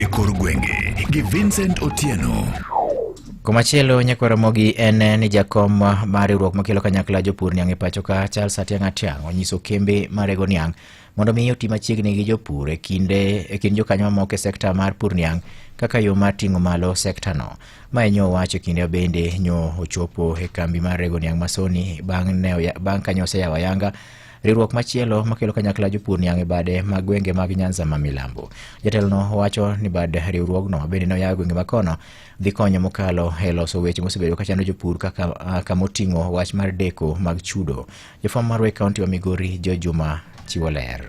e kor gwenge gi Vincent Otieno. Komachielo nyakwaro mogi en ni jakom mar riwruok makelo kanyakla jopur niang' e pacho ka Charles Atiang' Atiang' onyiso kembe marego niang' mondo mi oti machiegni gi jopur e kinde e kind jokanyo mamoko e sekta mar pur niang' kaka yo mar ting'o malo sekta no. Ma enyo owacho kinde bende nyo ochopo e kambi mar rego niang' masoni bang' ne bang' kanyo oseyawa yanga Riwruok machielo makelo kanyakla jopur niang' e bade ma gwenge mag Nyanza ma milambo. Jatelono wacho ni bad riwruogno bende noyawo e gwenge ma kono dhi konyo mokalo e loso weche mosebedo kachando jopur kaka ah, kama oting'o wach mar deko mag chudo. Jafwambo mar Wake County wa Migori Joe Juma chiwo ler.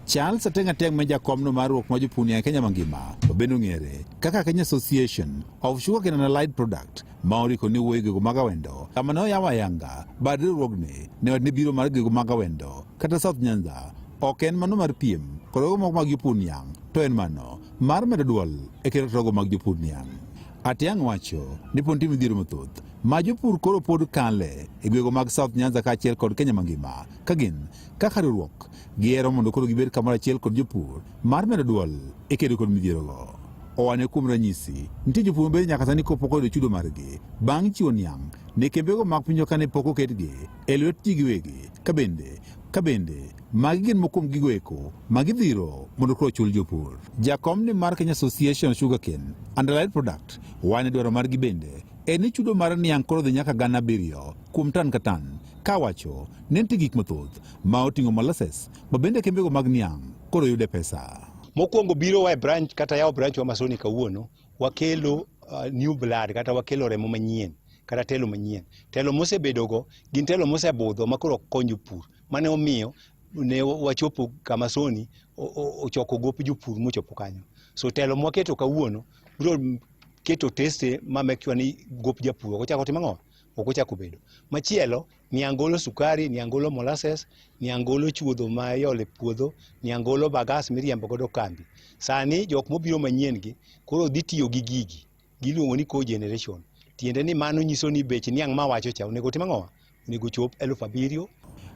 Charles Ateng' Ateng' ma jakomno mar ruok ma jopuni e Kenya mangima to bende ong'ere kaka Kenya Association of Sugarcane and Allied Product ma oriko ni wuoyo gigo mag awendo kama ne oyawo ayanga bad riwruogni ne ne biro mar gigo mag awendo kata South Nyanza ok en mano mar piem kod ogo moko mag jopur niang' to en mano mar medo dwol e kero togo mag jopur niang' Atiang' wacho ni pod nitie midhiero mathoth ma jopur koro pod kale e gwego mag South Nyanza kaachiel kod Kenya mangima ka gin kaka riwruok giyero mondo koro gibed kamoro achiel kod jopur mar medo dwol e kedo kod midhierogo. Owane kuom ranyisi, nitie jopur mabedo nyaka sani kopok oyudo chudo margi bang' chiwo niang' ne kembego mag pinyo kane pok oketgi e lwet ji giwegi ka bende ka bende magi gin mokuom gigo eko ma gidhiro mondo koro chul jopur. Jakom ni mar Kenya Association Sugarcane and Allied Product wane dwaro margi bende en ni chudo mar niang' koro dhi nyaka gana abiriyo kuom tan ka tan kawacho ni nitie gik mathoth ma oting'o molasses ma bende kembego mag niang' koro yude pesa. Mokwongo biro wa e branch kata yawo branch wa Masoni kawuono wakelo uh, new blood kata wakelo remo manyien kata telo manyien. Telo mosebedogo gin telo mosebudho ma koro konyo pur mane omiyo ne wachopo kama Soni ochoko gop jopur mochopo kanyo. So telo mwaketo kawuono biro keto teste ma make sure ni gop japur ok ochak otimo ang'o? ok ochak obedo. Machielo, niang' golo sukari, niang' golo molasses, niang' golo chuodho ma iolo e puodho, niang' golo bagas miriembo godo kambi. Sani jok mobiro manyien gi koro dhi tiyo gi gigi, giluongo ni cogeneration. Tiende ni mano nyiso ni bech niang' ma awacho cha onego otim ang'owa? Onego ochop eluf abiriyo.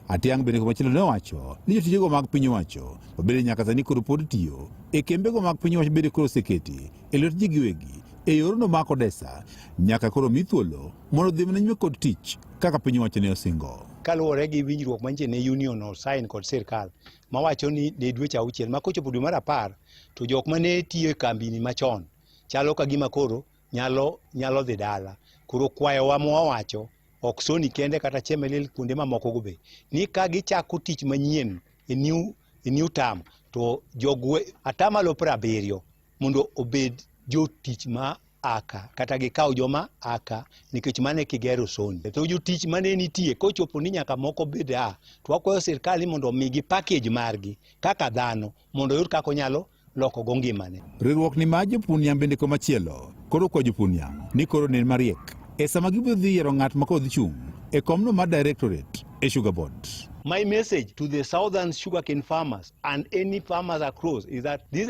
Atiang' bende komachielo ne owacho ni jotijego mag piny owacho ma bende nyaka sani koro pod tiyo e kembego mag piny owacho bende koro oseketi e lwet ji giwegi e yorno ma kodesa nyaka koro mi thuolo mondo odhi mana nyime kod tich kaka piny owacho ne osingo. kaluwore gi winjruok mantie ne union osain kod sirkal mawacho ni ne dweche auchiel ma kochopo dwe mar apar to jok ma ne tiyo e kambini machon chalo ka gima koro nyalo nyalo dhi dala koro kwayowa mwawacho ok soni kende kata chemelil kuonde mamokogo be ni ka gichako tich manyien e new, e new term to jogwe atamalo piero abiriyo mondo obed jotich ma aka kata gikaw joma aka nikech mane kigero soni to jotich mane nitie kochopo ni nyaka moko bed a to wakwayo sirkal ni mondo omigi package margi kaka dhano mondo oyud kaka onyalo loko go ngimane riwruok ni ma jopun yam bende komachielo koro kwa jopun yam ni koro nen mariek e sama gibiro dhi yiero ng'at ma kodhi chung' e komno mar directorate e sugar board. My message to the southern sugarcane farmers and any farmers across is that this